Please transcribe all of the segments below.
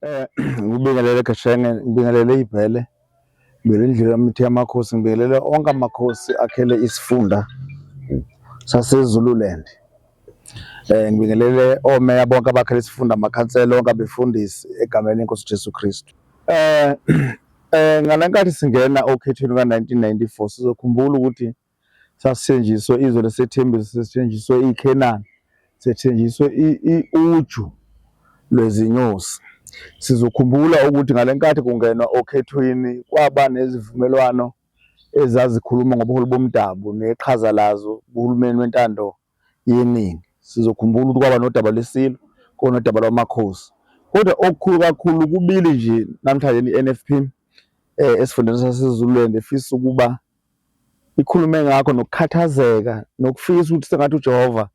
Eh ngibingelele Gashenge, ngibingelele iBhele, ngibingelele indlela yamithi yamakhosi, ngibingelele onke amakhosi akhele isifunda saseZululand. Eh ngibingelele omeya bonke abakhele isifunda amakhansela onke abefundisi egameni lenkosi Jesu Kristu. Eh eh ngalenkathi singena okhethweni ka-1994 sizokhumbula ukuthi Sasithenjiswe izwe lesethembiso, sesithenjiswe iKhenani, sethenjiswe uju lwezinyosi. Sizokhumbula ukuthi ngale nkathi kungenwa okhethweni kwaba nezivumelwano ezazikhuluma ngobuholi bomdabu neqhaza lazo kuhulumeni wentando yeningi. Sizokhumbula ukuthi kwaba nodaba lweSilo, kuba nodaba lwaMakhosi. Kodwa okukhulu kakhulu kubili nje namhlanje ne-NFP um eh, esifundeni saseZululand efisa ukuba ikhulume ngakho nokukhathazeka nokufisa ukuthi sengathi uJehova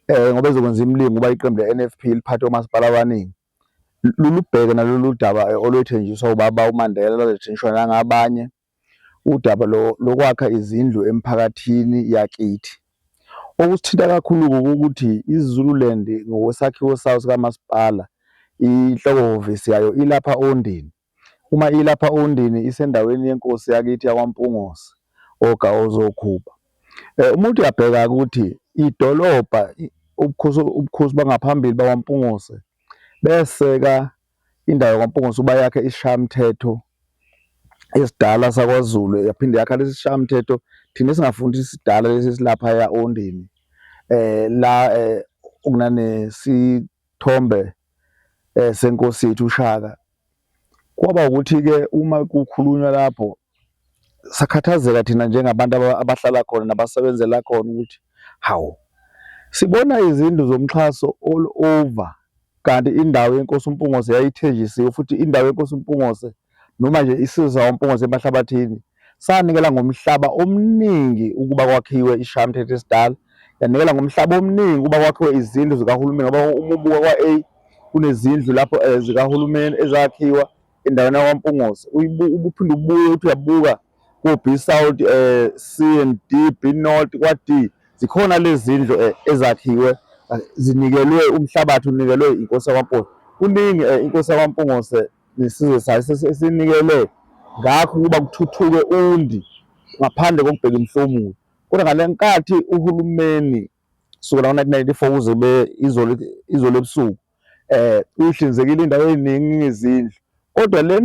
um ngoba ezokwenza imilingo uba iqembu le-NFP liphathe omasipala abaningi lulubheke nalolu daba eh, olwethenjiswa ubaba uMandela lwathenjiswa nangabanye udaba lokwakha izindlu emphakathini yakithi. Okusithinta kakhulu-ke ukuthi i-Zululand ngokwesakhiwo sayo sikamasipala inhloko hhovisi yayo ilapha Ondini. Uma ilapha Ondini isendaweni yenkosi yakithi yakwaMpungose oGawozokhupha. Eh, umuntu uyabheka ukuthi idolobha ubukhosi, ubukhosi bangaphambili bakwaMpungose beseka indawo yakwaMpungos'uba yakhe isishayamthetho esidala sakwaZulu yaphinde yakha lesi sishayamthetho thina esingafundi isidala lesi esilaphaya ondini eh la eh, okunane sithombe eh, senkosi yethu uShaka kwaba ukuthi ke uma kukhulunywa lapho sakhathazeka thina njengabantu abahlala khona nabasebenzela khona ukuthi hawu sibona izindlu zomxhaso all over kanti indawo yenkosi uMpungose yayithenjisiwe futhi indawo yenkosi uMpungose noma nje isizwe uMpungose emahlabathini sanikela ngomhlaba omningi ukuba kwakhiwe ishamthethe esidala yanikela ngomhlaba omningi ukuba kwakhiwe izindlu zikahulumeni ngoba uma ubuka kwa-a kunezindlu lapho um zikahulumeni ezakhiwa endaweni yakwaMpunguzi ubuphinde ubuye uthi uyabuka ku-B South eh C and D B North kwa D zikhona lezindlu eh, ezakhiwe eh, zinikelwe umhlabathi unikelwe inkosi yakwaMpunguzi kuningi eh, inkosi yakwaMpunguzi nesizwe sayo sesinikele ngakho ukuba kuthuthuke undi ngaphandle kokubheka imhlomulo kodwa ngale nkathi uhulumeni kusukela ngo-1994 kuze izolo ebusuku eh uyihlinzekile indawo eziningi ngezindlu kodwa le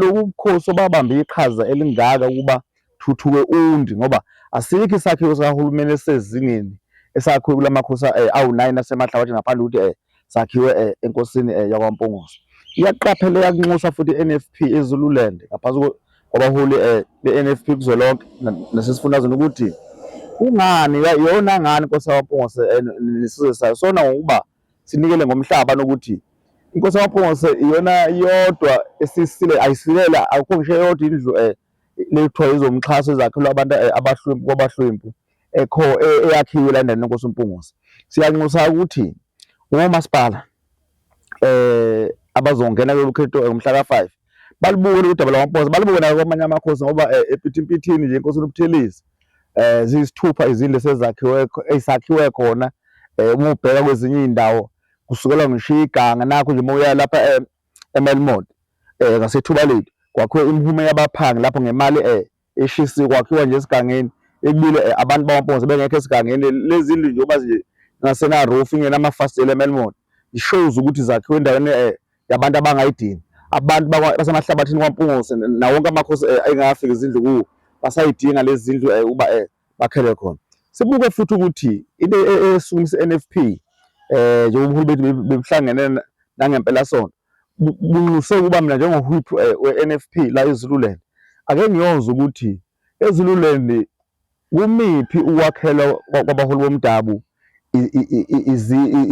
lokukhosi obabamba iqhaza elingaka ukuba thuthuke undi ngoba asikho isakhiwo sikahulumeni esezingeni esakhiwe kulamakhosi eh, awu-9 asemahlabathi ngaphandle ukuthi eh sakhiwe eh, enkosini eh, yakwaMpongoso iyaqaphela yakunxusa futhi i-NFP eZululand ngaphansi kwabaholi be-NFP kuzwelonke nasesifundazweni ukuthi kungani yona ngani inkosi yakwaMpongoso nesizwe sayo sona ngokuba sinikele ngomhlaba nokuthi inkosi yamaphongose iyona yodwa esisile ayisilela akukho ngisho eyodwa indlu um lethiwa izomxhaso ezakhelwa abantu eh, abahlwempu kwabahlwempu ekho eh, eyakhiwe la endaweni enkosi umpungose siyanxusa ukuthi womasipala um eh, abazongena kulolu khetho ngomhla ka-five balubuke lolu daba lwamaphosa balubuke nayo kwamanye amakhosi ngoba eh, ephithimpithini nje inkosi uNobuthelezi um ziyisithupha izindlu esezakhiwe ezakhiwe khona um uma ubheka kwezinye iy'ndawo kusukela ngisho iganga nakho nje uma uya lapha emelmond um ngasethuba lethu kwakhiwe imhume yabaphangi lapho ngemali um eshisiwe kwakhiwa nje esigangeni ekubile eh, abantu bamaphosa bengekho esigangeni lezi ndlu nje oba nje ngasena roof ingenamafasitela eMelmont ishows ukuthi zakhiwe endaweni eh, yabantu abangayidini abantu basemahlabathini kwaMpungose nawo wonke amakhosi eh, ayengafika izindlu kuwo basayidinga lezi zindlu uba bakhele khona sibuke futhi ukuthi into esukumisa NFP eh njengoba uhulumeni bebuhlangene nangempelasonto bunxuse ukuba mina njengohwip eh, we-NFP la eZululand ake ngiyozwa ukuthi eZululand kumiphi ukwakhelwa kwabaholi bomdabu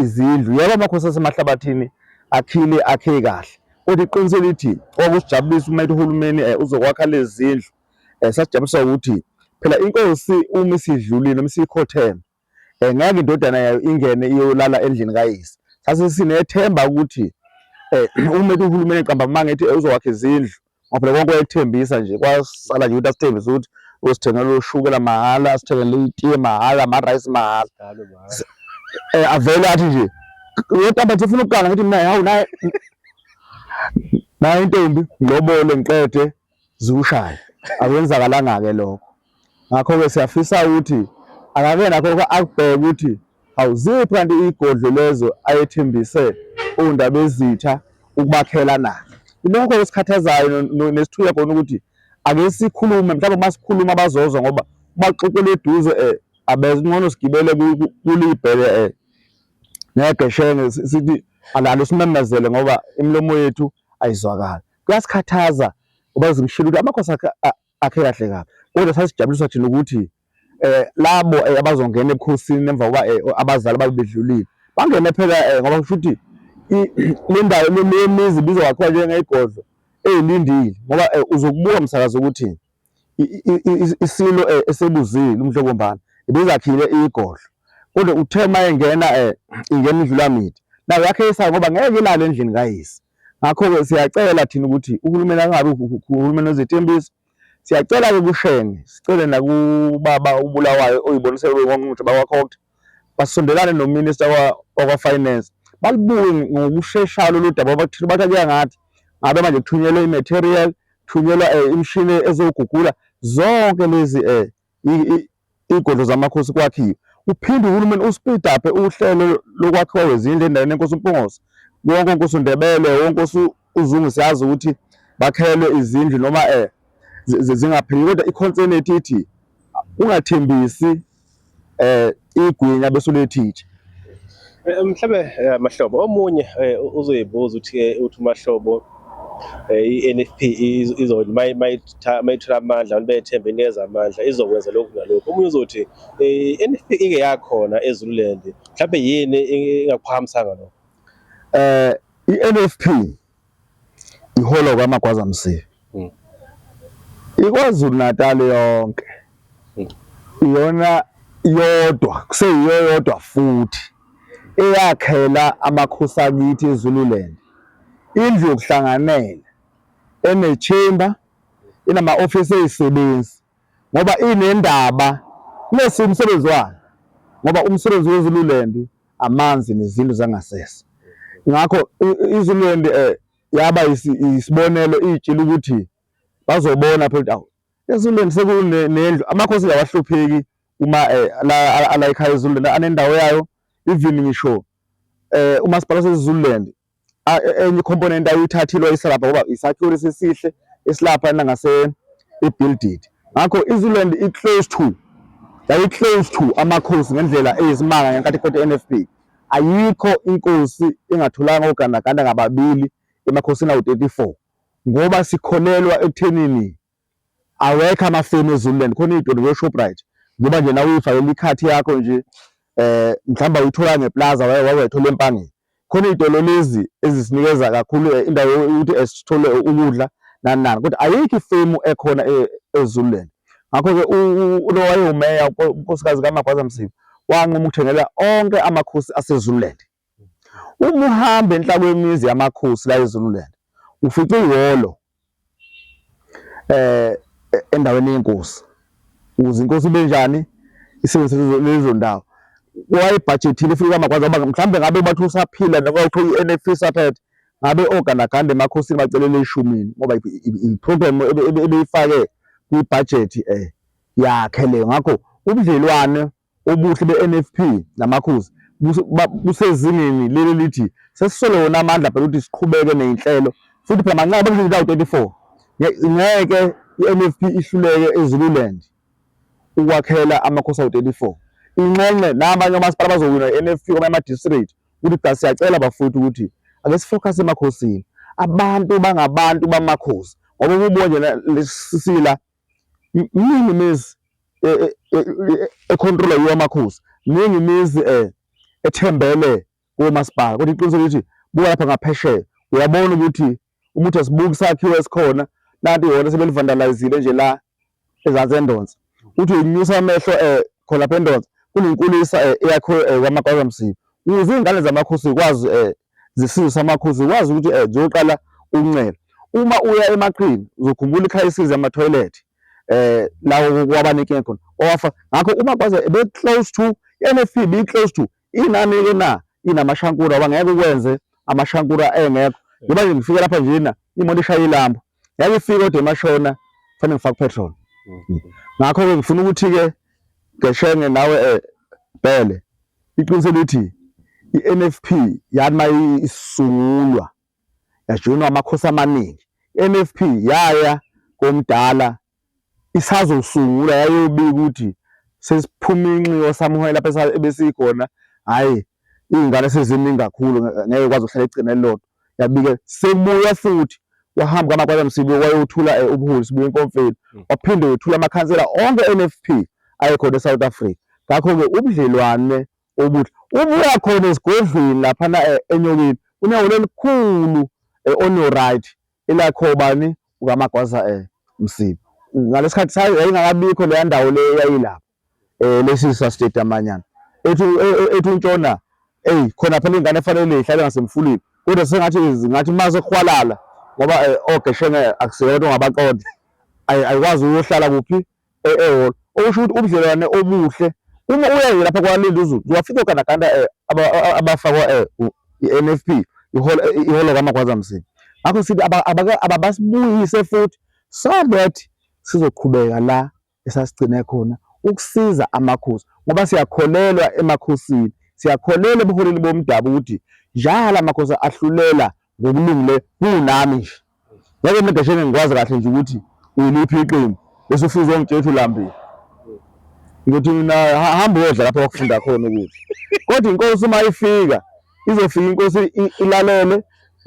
izindlu yebo amakhosi asemahlabathini akhile akhe kahle kodwa iqiniso elithi okusijabulisa uma ethi uhulumeni eh, uzokwakha lezi zindlu eh, sasijabulisa ukuthi phela inkosi uma isidlulile uma isikhotheme um ngeke indodana yayo ingene iyolala endlini kayise. Sasesinethemba ukuthi um uma ethi uhulumeni eqamba amanga ethi uzokwakha izindlu ngoba phela konke wayethembisa nje kwasala nje ukuthi asithembise ukuthi usithengela ushukela mahhala asithengele itiye mahhala amarayisi mahhala um avele athi nje yotamba nje ufuna ukuganga ngithi mina hawu naye naye intombi ngilobole ngiqede ziwushaya akwenzakalanga-ke lokho ngakho-ke siyafisa ukuthi akake nakho akubheke ukuthi awuziphi kanti iy'godlo lezo ayethembise owundabezitha ukubakhela na ilokho esikhathazayo nesithuya khona ukuthi ake sikhulume mhlawumbe uma sikhuluma bazozwa ngoba baxoxela eduze um abeze ngcono sigibele kulibhele um eh, ngeke shenge sithi alalo simemezele ngoba imilomo yethu ayizwakali kuyasikhathaza uba zimshilo ukuthi amakhosi akhe akhe kahle kabi kodwa sasijabulisa thina ukuthi eh labo eh, abazongena ebukhosini emva kokuba eh, abazali babe bedlulile bangene phela eh, ngoba kusho ukuthi le ndawo le mizi ibizwa kakhulu njengeyigodlo eyilindile ngoba eh, uzokubuka msakazi ukuthi isilo eh, esebuzile umhlobombana ibizakhile igodlo kodwa uthe uma engena eh, ingena indlulamidi nayo yakhe isayo ngoba ngeke ilale endlini kayise Ngakho-ke siyacela thina ukuthi uhulumeni angabi uhulumeni wezethembiso. Siyacela-ke kushenge, sicele nakubaba ubulawayo oyiboniselwe kwiNgqongqoshe bakwaCoct, basondelane nominista wakwaFinance, balibuke ngokusheshayo lolu daba ngoba thina bathi akuya ngathi. Ngabe manje kuthunyelwe i-material, kuthunyelwa um imishini ezogugula zonke lezi um iy'godlo zamakhosi kwakhiwe uphinde uhulumeni uspeed up uhlelo lokwakhiwa kwezindlu endaweni yenkosi umpungose wonke onkosi undebele wonke onkosi uzungu siyazi ukuthi bakhelwe izindlu noma eh zingapheli kodwa ikhonsenethi ithi ungathembisi eh igwinya bese ulethitshe eh, mhlawumbe eh, mahlobo omunye eh, uzoyibuza ukuthi uthi umahlobo i-NFP izoli mayithola amandla abantu bethembe ineza amandla izokwenza lokhu nalokhu omunye uzothi i-NFP ike yakhona eZululand mhlawumbe yini ingakuphakamsanga lokho eh i-NFP iholo kwaMagwaza Msibi mm. iKwaZulu Natal yonke mm. iyona yodwa kuseyiyo yodwa futhi eyakhela amakhosi akithi eZululand indlu yokuhlanganela enechemba inama office ezisebenzi ngoba inendaba nesi umsebenzi wayo ngoba umsebenzi weZululand amanzi nezindlu zangasese ngakho iZululand eh yaba isibonelo itshila ukuthi bazobona phela ukuthi awu eZululand sekunendlu amakhosi awahlupheki uma eh, la ekhaya eZululand anendawo yayo even ngisho eh umasipala waseZululand enye component ayithathilwa isilapha ngoba isakhiwo lesisihle esilapha nangase ibuilded ngakho iZululand i close to yayi close to amakhosi ngendlela eyisimanga ngenkathi kuqeda NFP ayikho inkosi engatholanga ogandaganda ngababili emakhosini awu-34 ngoba sikholelwa ekuthenini awekho amafemu ezululand khona iy'tolo koshoprite ngoba nje nawe uyifakela ikhathi yakho nje eh mhlawumbe uyithola ngeplaza wawethola empangeni khona iy'tolo lezi ezisinikeza kakhulu eh, indawo yokuthi esithole eh, ukudla nani nani kodwa ayikho ifemu ekhona eh, ezululand ngakho-ke lo wayewumeya unkosikazi kamagwaza msiba wanquma ukuthengela onke amakhosi asezululand Uma uhamba enhla kwemizi yamakhosi la eZululand ufica ihholo eh endaweni yenkosi ukuze inkosi ibe njani isebenzise lezo ndawo wayebhajethile futhi kwamakwazi ngoba mhlawumbe ngabe bathi usaphila noma kuthiwa i-NFP isaphethe ngabe ogandaganda emakhosini bacelele eshumini ngoba i-program ebeyifake kwibhajethi um yakhe leyo ngakho ubudlelwane Ubuhle beNFP naMakhosi busezingeni leli elithi sesisole wona amandla phela ukuthi siqhubeke nezinhlelo futhi phela manxa bekuzindawo 34 ngeke iNFP ihluleke eZululand ukwakhela amakhosi awu 34 inxenxe nabanye omasipala bazowina iNFP kwamanye ama-district ukuthi cha siyacela bafowethu ukuthi ake sifocus emakhosini abantu bangabantu bamakhosi ngoba kubo nje lesisila Miningi imizi e, e, e, ekhontrola yiwo amakhosi, miningi imizi um ethembele komasipala, kodwa iqiniso lithi buka lapha ngaphesheya uyabona ukuthi uma uthi asibuki isakhiwo esikhona nanti yona sebelivandalizile nje la ezansi endonsa uthi uyinyusa amehlo um khona lapha endonsa kunenkulisa um eyakhiwe um kwamagwazamsibi ukuze iy'ngane zamakhosi zikwazi um zesizwe samakhosi zikwazi ukuthi um ziyoqala ukuncela uma uya emaqhini uzokhumbula ikhaya isize amathoyilethi eh lawo kwabanike khona owafa ngakho uma kwaze be close to NFP be close to inani ke na inamashankura bangeke ukwenze amashankura engekho ngoba nje ngifike lapha nje na imoto ishaya ilamba yayifika kodwa emashona kufanele ngifake petrol mhm. ngakho ke ngifuna ukuthi ke ngeshenge nawe eh bhele iqiniso lithi iNFP yathi mayisungulwa yajoyinwa amakhosi amaningi iNFP yaya komdala isazosungula yayobika ukuthi sesiphuma inxiwa samuhoya lapha ebesikhona hhayi iy'ngane seziningi kakhulu ngeke kwazi uhlala egcina elilodwa yabike sekubuya futhi wahamba kwamakwala msibiwe wayothula eh, ubuholi sibuye enkomfeni hmm. waphinde wethula amakhansela onke NFP ayekhona eSouth Africa ngakho-ke ubudlelwane obuhle ubuya khona esigodlweni laphana eh, enyokeni unehholo elikhulu eh, onoright Ila kho bani ukaMagwaza eh Msibi. Ngalesikhathi sayo yayingakabikho leya ndawo le yayilapho eh lesisa state amanyana. Ethi ethi untshona hey khona phela ingane efanele ihlale ngasemfuleni. Kodwa sengathi ngathi maze khwalala ngoba ogeshenge akuseyona ongabaqonda. Ayikwazi uyohlala kuphi eh, ehholo okusho ukuthi ubudlelwane obuhle uma uyaye lapha kwaLindi uZulu uwafika ogandaganda eh, abafakwa eh, i-NFP iholo kaMagwaza Msibi ngakho sithi ababasibuyise futhi so that sizoqhubeka la esasigcine khona ukusiza amakhosi ngoba siyakholelwa emakhosini siyakholelwa ebuholini bomdabu ukuthi njalo amakhosi ahlulela ngokulungile kunami nje Ngeke mina Gasheni ngikwazi kahle nje ukuthi uliphi iqembu. Bese ufuze ungitshela ukuthi ulambile. Ngithi mina ha- hamba uyodla lapho wakufunda khona ukudla. Kodwa inkosi uma ifika izofika inkosi i- ilalele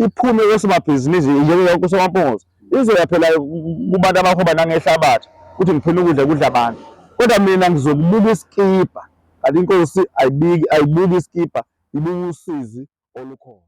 iphume kosomabhizinisi njenge yonke usomaphokoso izoya phela ku- kubantu abahoba nangehlabathi ukuthi ngifuna ukudla kudla abantu. Kodwa mina ngizokubuka isikibha kanti inkosi ayibiki ayibuki isikibha ibuka usizi olukhona.